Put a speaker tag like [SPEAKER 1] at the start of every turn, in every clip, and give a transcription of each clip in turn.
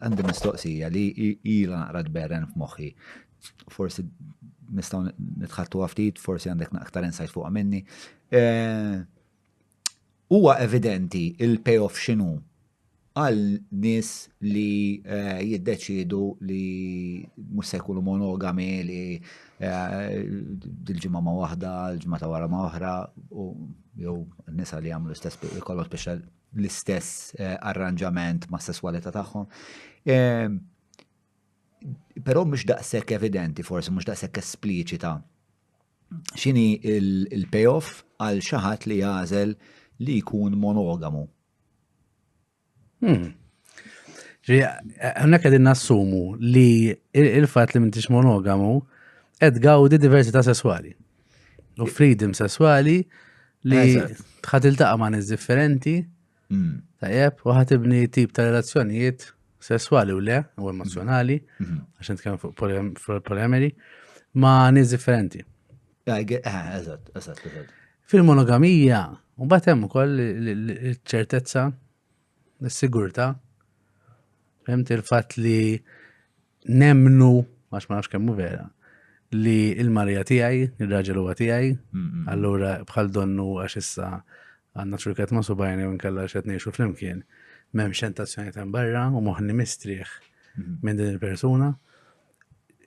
[SPEAKER 1] Għandi mistoqsija li ilha naqra tberren f'moħħi. Forsi nistgħu nitħattuha ftit, forsi għandek aktar insight fuqha minni. Eh, huwa evidenti il-payoff x'inhu għal nies li eh, jiddeċidu li mhux se jkunu monogami li eh, dil-ġimgħa ma' waħda, l-ġimgħa ta' wara ma' oħra, jew nisa li jagħmlu stess kollox biex l-istess eh, arranġament ma' sesswalità tagħhom. Ehm, però mhux daqshekk evidenti, forsi mhux daqshekk espliċita. X'inhi il-payoff għal xi ħadd li jażel li jkun monogamu. Hmm.
[SPEAKER 2] Għanna għedin nassumu li il-fat li mintix monogamu għed gawdi diversità sessuali. U freedom sesswali li tħat il-taqa ma' nis differenti, mm. tajjeb, u ħat ibni tip ta' relazzjonijiet sesswali u le, u emozjonali, mm-hmm. għaxan t-kem fuq polyameri, ma' nis differenti. Eh, eżat, eżat, eżat. Fil-monogamija, u batem u koll ċertezza, s-sigurta, fem il-fat li nemmnu, għax ma nafx kemmu vera, li il-marija tijaj, il-raġel huwa tijaj, allura bħal donnu għax issa għanna ċurkat ma subajni u nkella xet neħxu fl-imkien, mem xentazzjoni ta' barra u moħni mistrieħ minn din il-persuna.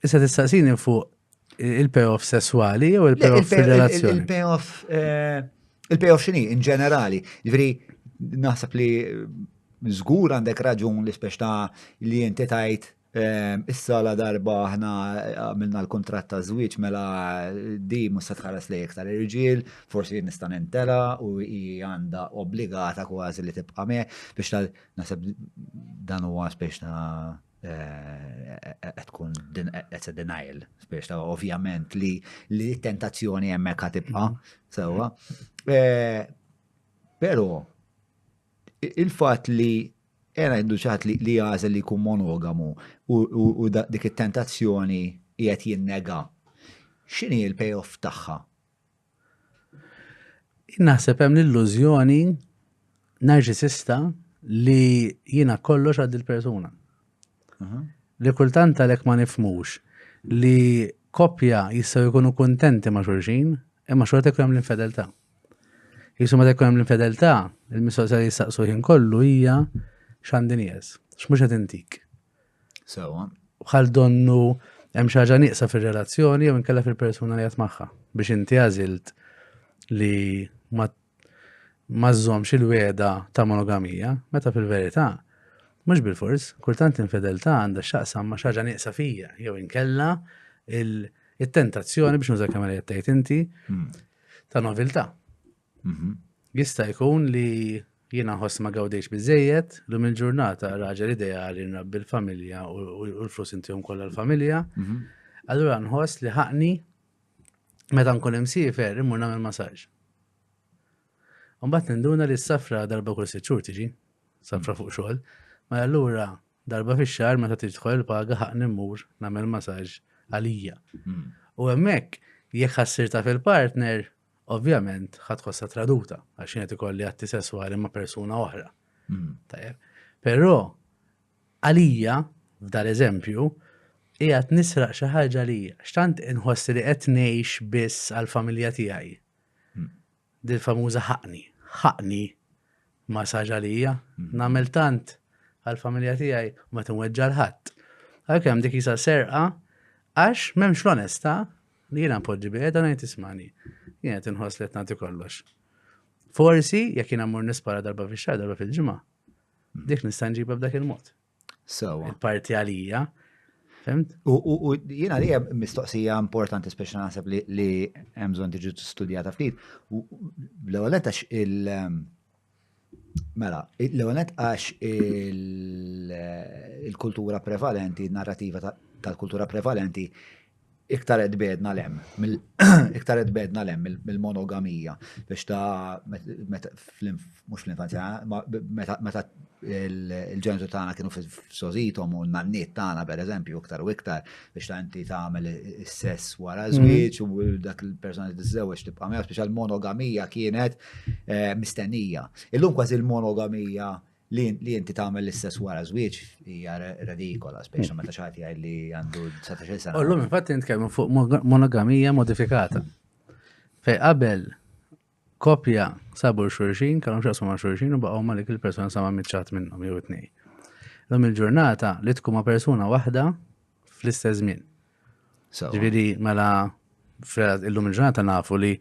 [SPEAKER 2] Issa tistaqsini fuq Il-payoff sessuali jew il-payoff fil-relazzjoni? Il-payoff,
[SPEAKER 1] eh, il-payoff xini, in ġenerali. Ġviri, naħseb li zgur eh, għandek raġun li speċ ta' li jinti tajt eh, issa la darba ħna għamilna l-kontrat ta' zwiċ mela di musa tħares li iktar irġiel, forsi nista' nintela u hi għandha obbligata kważi li tibqa' me biex tal naħseb dan huwa speċ ta' qed tkun qed denial biex ta' ovvjament li li tentazzjoni hemmhekk ħatibqa' sewwa. Eh, però il-fatt li era għandu ċaħat li għażel li jkun monogamu u dik it-tentazzjoni qiegħed jinnega. X'inhi l-payoff tagħha?
[SPEAKER 2] Naħseb hemm l-illużjoni narġisista li jiena kollox għad il-persuna. Li kultant għalhekk ma nifmux li koppja jistgħu jkunu kuntenti ma' xulxin, imma xorta jkun hemm l-infedeltà. Jisu meta jkun hemm l-infedeltà, il-mistoqsija li jistaqsu ħin kollu hija x'għandi nieqes, x'mhux qed intik. Sewa.
[SPEAKER 1] Bħal
[SPEAKER 2] donnu hemm xi ħaġa nieqsa fir-relazzjoni jew inkella fil-persuna li qed magħha biex inti għażilt li ma ma żżomx il-weda ta' monogamija, meta fil-verità mhux bil-fors, kultant infideltà għandha x'aqsam ma' xaġa nieqsa fija, jew inkella il-tentazzjoni biex nuża kemm li tgħid inti hmm. ta' noviltà. Mhm. Jista' jkun li jiena ħoss ma gawdejx biżejjed, l il-ġurnata raġel ideali nrabbi l-familja u l-flus intihom kollha l-familja. Mhm. Allura nħoss li ħaqni meta nkun hemm siefer immur nagħmel masaġġ. Mbagħad ninduna li s-safra darba kull sitt xhur tiġi, safra fuq xogħol, ma mela allura darba fix-xahar meta tidħol il-paga ħaqni mmur nagħmel masaġġ għalija. Mhm. U hemmhekk jekk ħassir ta' fil-partner ovvjament ħa tħossha traduta għax jien qed ikolli atti sesswali ma' persuna oħra. Hmm. Tajjeb. Però għalija f'dar eżempju qiegħed nisraq xi ħaġa li x'tant inħoss li qed ngħix biss għall-familja tiegħi. Hmm. Dil famuża ħaqni, ħaqni ma saġa lija, hmm. nagħmel tant għall-familja tiegħi ma tinweġġa l-ħadd. Għalkemm dik jisa serqa għax m'hemmx l-onesta Li jiena npoġġi bieda ngħid ismani. Jien qed inħoss li qed nagħti kollox. Forsi jekk jiena mmur nispara darba fix-xahar, darba fil-ġimgħa, dik nista' nġibha b'dak il-mod. Sewa. Parti għalija. Fimt? U
[SPEAKER 1] jiena li mistoqsija importanti speċi naħseb li hemm bżonn tiġi studjata ftit. L-ewwel għax il- ehm, Mela, l-ewwel nett għax il-kultura prevalenti, narrativa tal-kultura prevalenti iktar qed bedna lem, iktar qed bedna lem mill-monogamija biex ta' mhux fl-infanzja, meta il-ġentu tagħna kienu f'sożitom u n-nanniet tagħna pereżempju iktar u iktar biex ta' inti tagħmel is-sess wara żwieġ u dak il-persuna li tiżżewweġ tibqa' miegħu biex għall-monogamija kienet eh, mistennija. Illum kważi l-monogamija li inti tagħmel l-istess wara żwieġ hija redikola, speċjalment meta xagħti għaj li għandu 19 sena. Illum infatti nitkellmu fuq
[SPEAKER 2] monogamija modifikata. Fej qabel kopja sabu xurxin, kellhom xaqsu ma' xurxin u baqgħu ma' dik il-persuna sama miċċat minnhom jew it-tnej. Illum il-ġurnata li tkun ma' persuna waħda fl-istess żmien. Ġviri, mela, illum il-ġurnata nafu li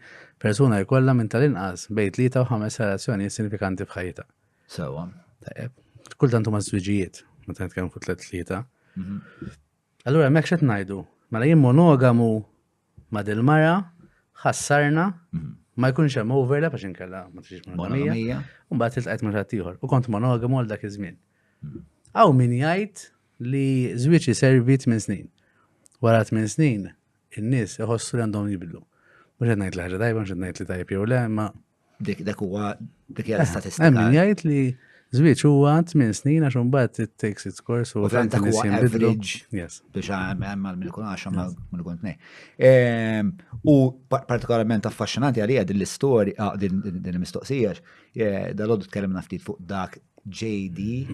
[SPEAKER 2] persuna jkollha minn tal-inqas bejt li ta' ħames relazzjoni sinifikanti f'ħajta. Sewa.
[SPEAKER 1] Tajjeb.
[SPEAKER 2] Kultant huma żwiġijiet, meta nitkellmu fuq tliet tlieta. Mhm. Allura hemmhekk x'qed ngħidu? Mela jien monogamu ma' dil-mara, ħassarna, mhm. ma jkunx hemm overlap għax inkella ma tixix monogamija. Mbagħad tiltqajt minn ħadd ieħor u kont monogamu għal dak iż-żmien. Aw mhm. min jgħid li żwieġ iservi tmien snin. Wara tmien snin, in-nies iħossu li għandhom jibdlu. Mhux qed ngħid li ħaġa tajba, mhux qed ngħid li tajjeb jew le, imma dik dak huwa
[SPEAKER 1] dik hija l-istatistika. Hemm min jgħid li
[SPEAKER 2] żwieġ huwa tmien snin għax imbagħad it takes its course u tant ta' huwa average.
[SPEAKER 1] Yes. Biex
[SPEAKER 2] hemm għal
[SPEAKER 1] minn ikun għax minn ikun tnej. Ehm, u partikolarment affaxxinanti għalija din l-istorja, ah, din il-mistoqsija, eh, dal-għoddu tkellimna ftit fuq dak JD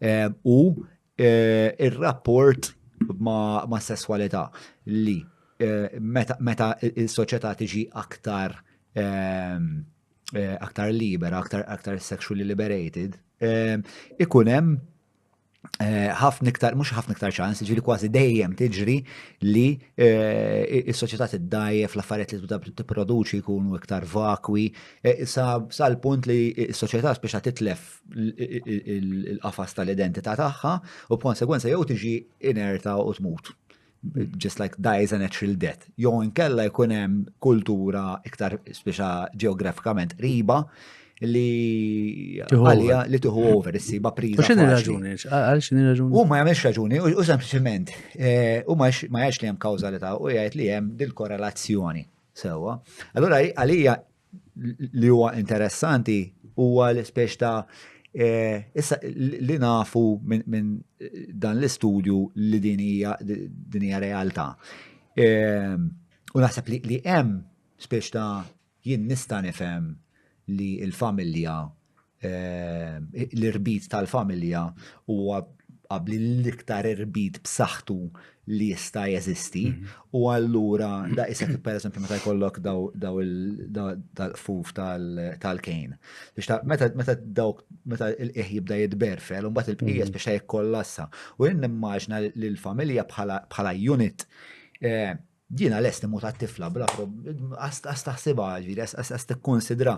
[SPEAKER 1] Eh, u eh, ir-rapport ma' sesswalità li eh, meta il-soċjetà tiġi aktar ehm, aktar libera, aktar, aktar sexually liberated, ehm, ikun hemm Eh, ħafna iktar, mux ħafna iktar ċans, ġili kważi dejjem tiġri li eh, il-soċieta t-dajje fl-affariet li t-produċi jkunu iktar vakwi, eh, sal-punt li il-soċieta speċa titlef il-qafas tal-identità tagħha u b'konsegwenza jew tiġi inerta u tmut. Just like dies a natural death. Jew inkella jkun hemm kultura iktar speċa ġeografikament qriba li għalija li tuħu over, issiba priża. X'inhi raġuni?
[SPEAKER 2] Għal x'inhi raġuni? U ma jagħmilx raġuni,
[SPEAKER 1] u sempliċement, eh, u ma jgħidx li hemm kawżalità, u jgħid li hemm dil-korrelazzjoni. Sewa. Allura għalija li huwa interessanti huwa l-ispeċ ta' e, issa li nafu minn dan l-istudju li din hija din hija realtà. E, u naħseb li hemm speċ ta' jien nista' nifhem li l-familja l-irbit tal-familja huwa qabli l-iktar irbit b'saħħtu li jista' jeżisti mhm. u allura da isek per eżempju meta jkollok daw il-fuf tal-kejn. Meta dawk meta il-qieħ jibda jitberfel, un il-bqija mhm. biex ta' jikkollassa. U jinn immaġna li l-familja bħala unit eh, Jiena lest imut għat-tifla bla għas taħsibha ġifieri għas tikkunsidra.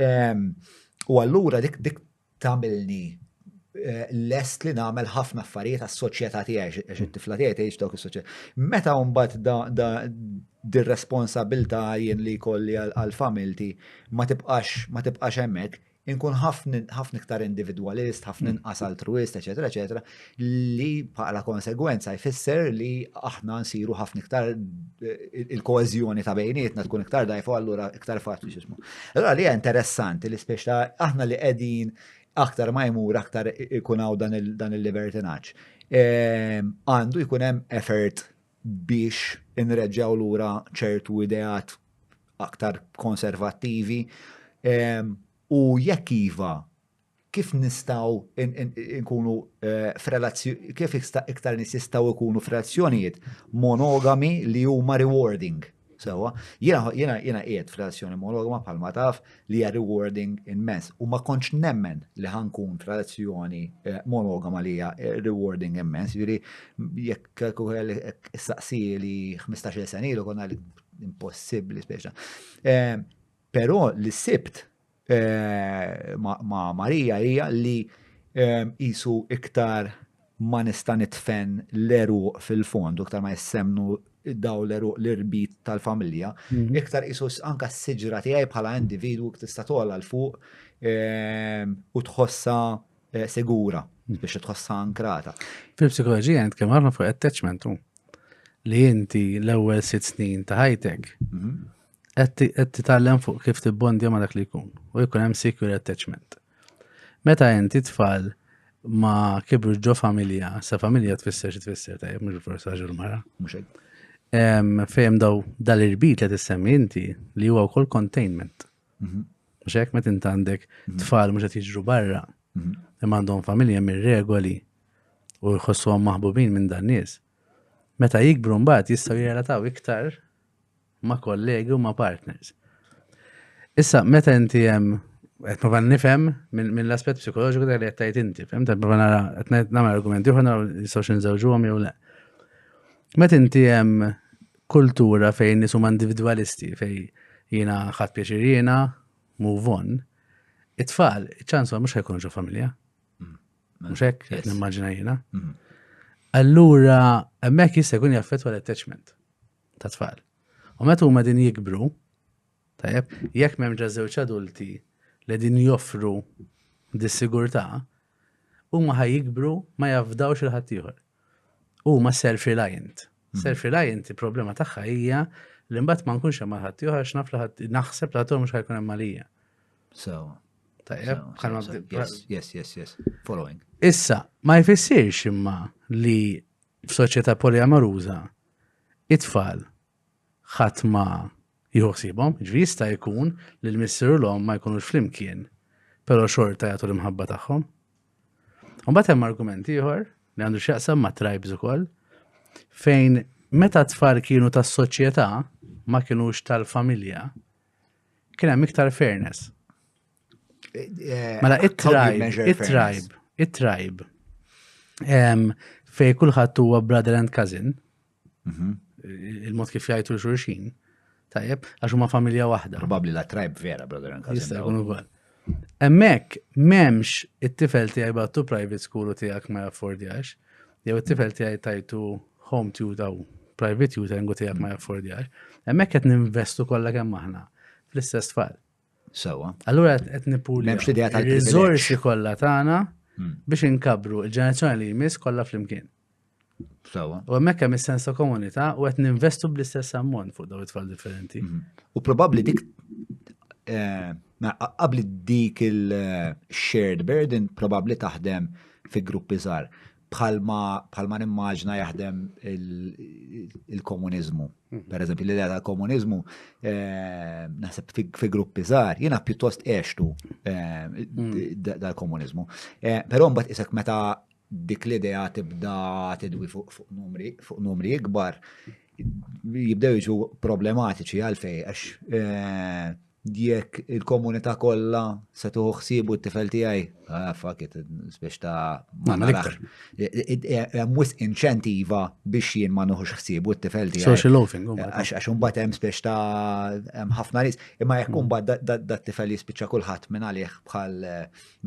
[SPEAKER 1] Ehm, u allura dik dik tagħmilni eh, lest li nagħmel ħafna affarijiet għas-soċjetà tiegħi għax it-tifla tiegħi tgħix dawk is-soċjetà. Meta mbagħad da dir-responsabilità jien li jkolli għal familti ma tibqax ma tibqax hemmhekk, Inkun ħafna iktar individwalist, ħafna inqas altruist, eċetera, eċetera, li bħala konsegwenza jfisser li aħna nsiru ħafna iktar eh, il-koezjoni ta' bejnietna tkun iktar dajfu allura iktar faċli xismu. Allura li interessanti li spiex ta' aħna li qegħdin aktar ma jmur aktar ikun hawn dan il-libertinaġġ. Ehm, għandu jkun hemm effort biex inreġġgħu lura ċertu ideat aktar konservattivi? U jekk iva, kif nistgħu nkunu kif iktar nies jistgħu jkunu f'relazzjonijiet monogami li huma rewarding? Sewa, jiena jiena jiena qiegħed f'relazzjoni monogama bħalma taf li hija rewarding immens u ma kontx nemmen li ħankun f'relazzjoni eh, monogama li hija eh, rewarding immens, jiġri jekk saqsi li 15 sena ilu konna li impossibbli speċa. Eh, però li sibt ma' Marija hija li qisu iktar ma nista' nitfen l-għeruq fil-fond, iktar ma jissemnu daw l-għeruq l-irbit tal-familja, mhm. iktar qisu anka s-siġra tiegħi bħala individwu tista' togħla l fuq u tħossa eh, sigura mhm. biex tħossa ankrata. Fil-psikoloġija jent
[SPEAKER 2] kemm ħafna fuq attachment li inti l-ewwel sitt snin ta' ħajtek mhm. qed titgħallem fuq kif tibbondja ma' dak li jkun u jkun hemm secure attachment. Meta inti tfal ma kibru ġo familja, sa familja tfisser xi tfisser tajjeb mhux forsi raġel mara.
[SPEAKER 1] Fejn
[SPEAKER 2] daw dal-irbit li tissemmi inti li huwa wkoll containment. Mhm. Mhux hekk meta inti għandek mhm. tfal mhux qed jiġru barra, mhm. imma għandhom familja minn regoli u jħossuhom maħbubin minn dan nies. Meta jikbru mbagħad jistgħu jirrelataw iktar ma' kollegi u ma' partners. Issa, meta inti hemm qed prova nifhem minn l-aspett psikoloġiku dak li qed tgħid inti, fhem qed prova nara qed nagħmel argumenti oħra naraw jistgħux inżewġuhom jew le. Meta inti hemm kultura fejn nies huma individwalisti fejn jiena ħadd pjaċir jiena move on, it-tfal ċans mhux ħajkunu ġo familja. Mm. Mhux hekk qed nimmaġina jiena. Mm. Allura hemmhekk jista' jkun jaffettwa l-attachment. ta' tfal. U meta huma din jikbru, tajjeb, jekk m'hemm ġa żewġ adulti li din joffru dis-sigurtà, huma ħaj jikbru ma jafdawx il-ħaddieħor. Huma self-reliant. Hmm. Self-reliant il-problema tagħha hija li mbagħad ma nkunx hemm ħaddieħor għax naf li naħseb li ħaddieħor mhux ħajkun hemm għalija. So, Yes, yes, yes, yes.
[SPEAKER 1] Following. Issa, ma
[SPEAKER 2] jfissirx imma li F'soċjetà poliamoruża, it-tfal ħadd ma jieħu ħsiebhom, jiġifieri jista' jkun li l-missier u l-omm ma jkunux flimkien, però xorta jagħtu l-imħabba tagħhom. Mbagħad hemm argument ieħor li għandu x'jaqsam ma' tribes ukoll fejn meta t-tfal kienu tas-soċjetà ma kinux tal-familja, kien hemm iktar fairness. Eh, mela, it-tribe, it-tribe, it-tribe. Fej kullħat huwa brother and cousin. Mhm. Il-mod kif jgħajtu l-xurxin. Tajjeb, għax huma familja waħda. Probabbli la tribe vera,
[SPEAKER 1] brother and cousin. Jista' jkun ukoll.
[SPEAKER 2] Emmek, memx it-tifel tijaj battu private school u tijak ma jaffordjax, jew it-tifel tijaj tajtu home tutor u private tutoring u tijak ma jaffordjax, emmek qed ninvestu kollha kemm aħna fl-istess tfal. Sewa.
[SPEAKER 1] Allura qed
[SPEAKER 2] nippur M'hemmx l-idea tal-privileġġ. riżorsi kollha tagħna Hmm. biex inkabru il-ġenerazzjoni li jmiss kollha flimkien. Sewa.
[SPEAKER 1] U hemmhekk hemm is-sens
[SPEAKER 2] ta' komunità u qed ninvestu bl-istess ammont fuq dawn it-tfal differenti. Mhm. U probabbli
[SPEAKER 1] dik eh, ma- qa- qabli dik il-shared burden probabbli taħdem fi gruppi żgħar. bħalma nimmaġna jaħdem il-komuniżmu. Mhm. Per eżempju, l-idea tal-komuniżmu eh, naħseb fi gruppi żgħar, jiena pjuttost għextu eh, mhm. dal-komuniżmu. Eh, però mbagħad isek meta dik l-idea tibda tidwi fuq numri ikbar, jibdew jiġu problematiċi għalfej għax Jekk il-komunità kollha se tuħu ħsiebu t-tifel tiegħi, ah, fuck it, biex ta' ma narax. Hemm wisq inċentiva biex jien ma nuħux ħsiebu t-tifel tiegħi. Social loafing. Oh
[SPEAKER 2] għax imbagħad hemm
[SPEAKER 1] biex ta' hemm ħafna ris. Imma jekk imbagħad mm. dat-tifel jispiċċa kulħadd minn għalih bħal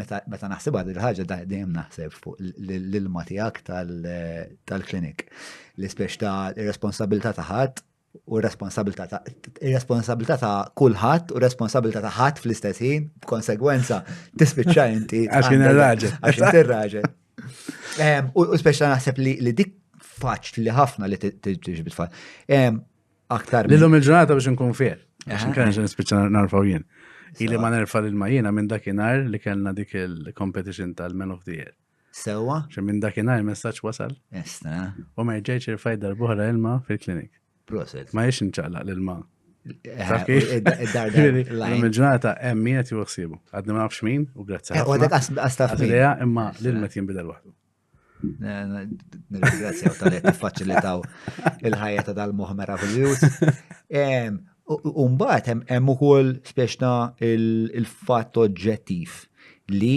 [SPEAKER 1] meta naħsibha din ħaġa dejjem naħseb fuq l-ilma tiegħek tal-klinik. L-ispeċ ta' responsabilità ta' ħadd u responsabilità ta' responsabilità ta' kulħadd u responsabilità ta' ħadd fl-istess ħin, b'konsegwenza tispiċċa inti għax kien raġel.
[SPEAKER 2] Għax inti raġel.
[SPEAKER 1] Ehm, u speċa naħseb li dik faċ li ħafna li tiġi bitfall. Ehm, aktar. Lillum il-ġurnata biex
[SPEAKER 2] nkun fier. Għax nkun ġen spiċċa narfaw jien. Ili ma nerfa l-ma jiena minn dakinhar li kellna dik il-competition tal-Men of the Year. Sewa? Xe minn
[SPEAKER 1] dakinhar
[SPEAKER 2] messaġġ wasal. Estra. U ma
[SPEAKER 1] rġajtx
[SPEAKER 2] irfajt darb'oħra ilma fil-klinik. Proset. Ma jiex
[SPEAKER 1] nċaqlaq
[SPEAKER 2] l-ilma. Eh,
[SPEAKER 1] Il-ġurnata hemm min qed juħsibu.
[SPEAKER 2] Għadni ma nafx min u grazzi. Eh, għadek għastaf
[SPEAKER 1] min. Imma l-ilma
[SPEAKER 2] jinbidel waħdu. Nirringrazzjaw
[SPEAKER 1] tal-li tiffaċilitaw il-ħajja ta' dal-moħ meravigliuż. Umbat, hemm ukoll speċna il-fatt oġġettiv li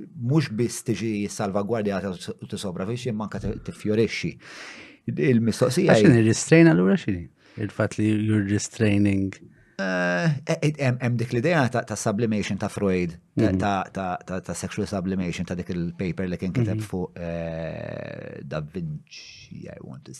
[SPEAKER 1] mhux biss tiġi salvagwardjata u tisopravixxi imma anke tiffjorixxi.
[SPEAKER 2] Il-mistoqsija. Għax nirristrejn allura xi?
[SPEAKER 1] Il-fatt
[SPEAKER 2] li you're restraining. Eh,
[SPEAKER 1] eh, eh, hemm dik l-idea ta' sublimation ta' Freud, mhm. ta' sexual sublimation ta' dik il-paper li kien kiteb mhm. fuq Da Vinci, I want to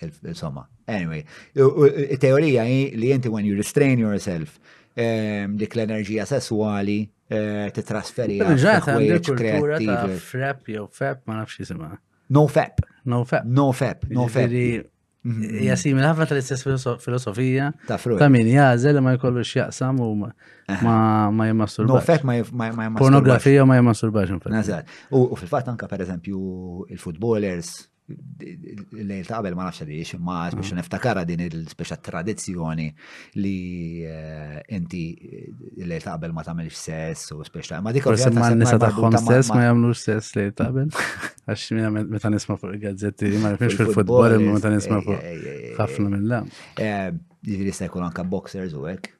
[SPEAKER 1] Insomma, anyway, teorija hi li inti when you restrain yourself ehm, dik l-enerġija sessuali eh, titrasferi għal
[SPEAKER 2] kreativ. Frep jew fep ma nafx jisimha. No fep.
[SPEAKER 1] No fep. No fep.
[SPEAKER 2] No
[SPEAKER 1] fep. Mhm. Hija
[SPEAKER 2] simil ħafna tal-istess filosofija ta' min
[SPEAKER 1] jażel ma
[SPEAKER 2] jkollu x'jaqsam u Eh. Ma ma jimmasturbax. No, fek ma jimmasturbax.
[SPEAKER 1] Pornografija ma
[SPEAKER 2] jimmasturbax. Nazar. U
[SPEAKER 1] fil-fat anka per eżempju il-futbolers l-lejl ta' qabel ma nafx li jiex ma mm. biex niftakara din il-speċa tradizzjoni li eh, inti eh, l-lejl ta' qabel ma tagħmilx sess u speċa ma dik forsi ma nisa tagħhom
[SPEAKER 2] stess ma jagħmlu sess lejl ta' qabel għax meta nisma' fuq il-gazzetti ma nafx fil-futbol imma meta nisma' fuq ħafna mill-lam. Jiġri
[SPEAKER 1] se jkun anka boxers u hekk.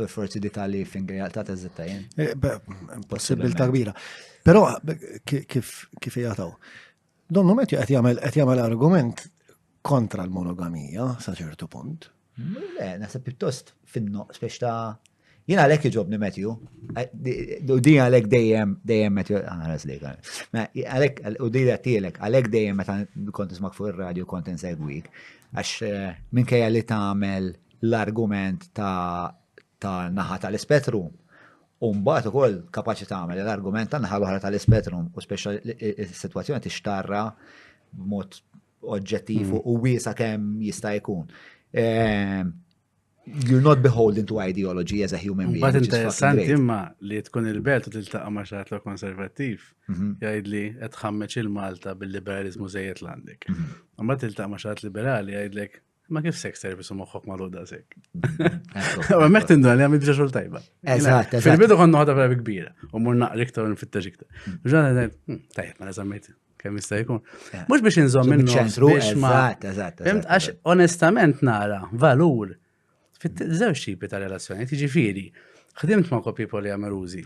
[SPEAKER 3] Forsi
[SPEAKER 1] dik għalli finger jaqta ta' zitta jen. Eh, Possibilta
[SPEAKER 3] kbira. Pero kif jgħataw? Donnu met qed jagħmel qed jagħmel argument kontra l-monogamija sa ċertu punt. Le, nasa
[SPEAKER 1] pjuttost finno, spiex ta' jina għalek iġobni Matthew, eh, u di għalek dejjem, dejjem Matthew, ah, għanas li għan. Għalek, u di għatilek, għalek dejjem meta kont ismak fuq il-radio kont insegwik, għax eh, minn kajja li ta' għamel l-argument ta' ta' naħa tal-ispettru u mbagħad ukoll kapaċi tagħmel l-argument ta' naħa l-oħra tal-ispettru u speċjal is-sitwazzjoni tixtarra b'mod oġġettiv mm. u wiesa kemm jista' jkun. Ehm, you're not beholden to ideology as a human being. But interessanti imma
[SPEAKER 2] li tkun il-belt u tiltaqa ma xaħat l konservativ mhm. jgħid li qed ħammeċ il-Malta bil-liberalizmu żejjed l-għandek. Mhm. Mbagħad tiltaqa ma xaħat liberali jgħidlek Ma kif sex service u moħħok magħluq daqshekk. Ma mek tinduna li għamil biex xogħol tajba. Eżatt, eżatt. Fil-bidu
[SPEAKER 1] konna ħadha vera
[SPEAKER 2] kbira u mur naqri iktar nfittex iktar. Hmm. Ġana ngħid, hmm, tajjeb, ma eżammejt kemm jista' jkun. Mhux biex inżomm minn ċentru biex ma. Eżatt, eżatt. Fimt għax
[SPEAKER 1] onestament
[SPEAKER 2] nara valur fit-żewġ tipi ta' relazzjoni, tiġifieri, ħdimt ma' kopji poliamerużi.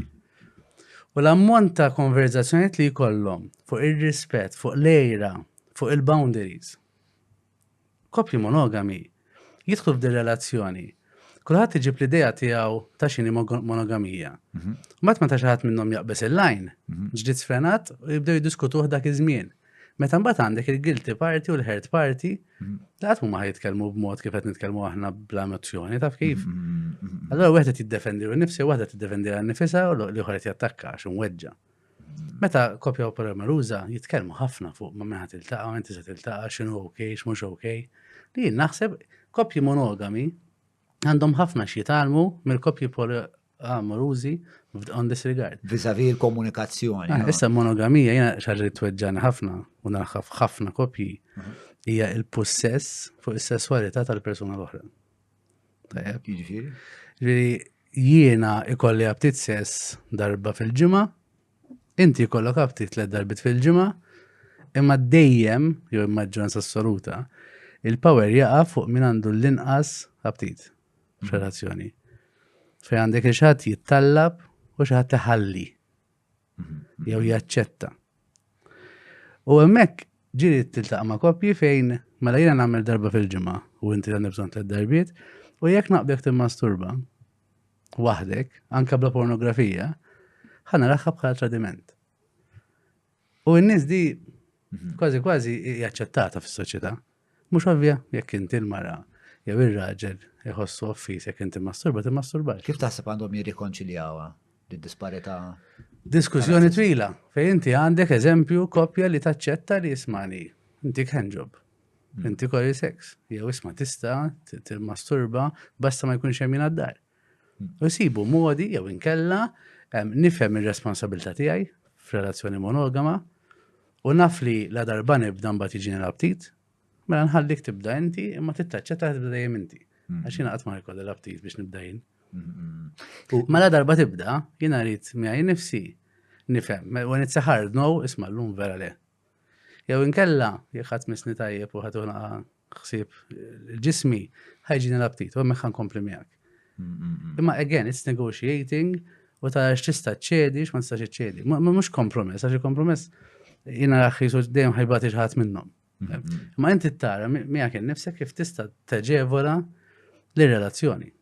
[SPEAKER 2] U l-ammont ta' konverzazzjoniet li jkollhom fuq ir-rispett, fuq lejra, fuq il-boundaries, Koppji monogami jidħlu f'din relazzjoni. Kulħadd iġib l-idea tiegħu ta' xini monogamija. Mhm. Mbagħad meta xi ħadd minnhom jaqbeż il-lajn, mhm. ġdid sfrenat u jibdew jiddiskutuh dak iż-żmien. Meta mbagħad għandek il-guilty party u l-hurt party, mhm. li qatt huma jitkellmu b'mod kif qed nitkellmu aħna bla emozzjoni, taf kif? Allora wieħed qed jiddefendi u nnifsi waħda tiddefendi għal nifisha u l-ieħor qed jattakka għax imweġġa. Meta kopja u paroli maluża jitkellmu ħafna fuq ma meħat il-taqa, inti se tiltaqa, xinu ok, x'mhux ok, li jien naħseb kopji monogami għandhom ħafna x'jitalmu mill-kopji poliamarużi on this regard. Vizavi l-komunikazzjoni.
[SPEAKER 1] Ah, issa monogamija
[SPEAKER 2] jena xarri tweġġan ħafna u naħħaf ħafna kopji mhm. hija il-possess fuq is-sesswalità tal-persuna l-oħra. Jiġifieri? Li jiena ikolli aptit sess darba fil-ġimgħa, inti jkollok aptit tliet darbit fil-ġimgħa, imma dejjem, jew maġġoranza assoluta, il-power jaqa' fuq min għandu l-inqas aptit f'relazzjoni. Fej għandek xi ħadd jittallab u xi ħadd iħalli. jew jaċċetta. U hemmhekk ġiri tiltaqa' ma' koppji fejn mela jiena nagħmel darba fil-ġimgħa u inti għandek bżonn tliet darbiet u jekk naqbek timmasturba waħdek, anka bla pornografija, ħana raħħa bħala tradiment. U n-nies di mhm. kważi kważi jaċċettata fis-soċjetà. Mhux ovvja, jekk inti l-mara jew ir-raġel iħossu offiż jekk inti masturba timmasturbax. Kif taħseb għandhom
[SPEAKER 1] jirrikonċiljawha d-disparità? Diskussjoni
[SPEAKER 2] twila, fej inti għandek eżempju koppja li taċċetta li jismani, inti handjob, hmm. inti kori sex, jew isma tista timmasturba basta ma jkunx hemm jingħaddar. U nsibu modi jew inkella nifhem ir-responsabilità tiegħi f'relazzjoni monogama u naf li la darba nibda mbagħad jiġi l-aptit, mela nħallik tibda inti imma tittaċċetta tibda dejjem inti. Mm. Għax jiena qatt ma jkolli l-aptit biex nibda jien. U mela darba tibda, jiena rrid miegħi nifsi nifhem, when it's a hard no, isma' llum vera le. Jew inkella, jekk ħadd misni tajjeb u ħadd ħsieb ġismi, ħajġini l-aptit, u hemmhekk ħankompli miegħek. Imma again, it's negotiating u ta' x'tista' ċedi, x'ma tistax ċedi. Mhux kompromess, għax il-kompromess jiena raħħis u dejjem ħajbati ħadd minnhom. Ma inti tara miegħek innifsek kif tista' teġevola l-relazzjoni.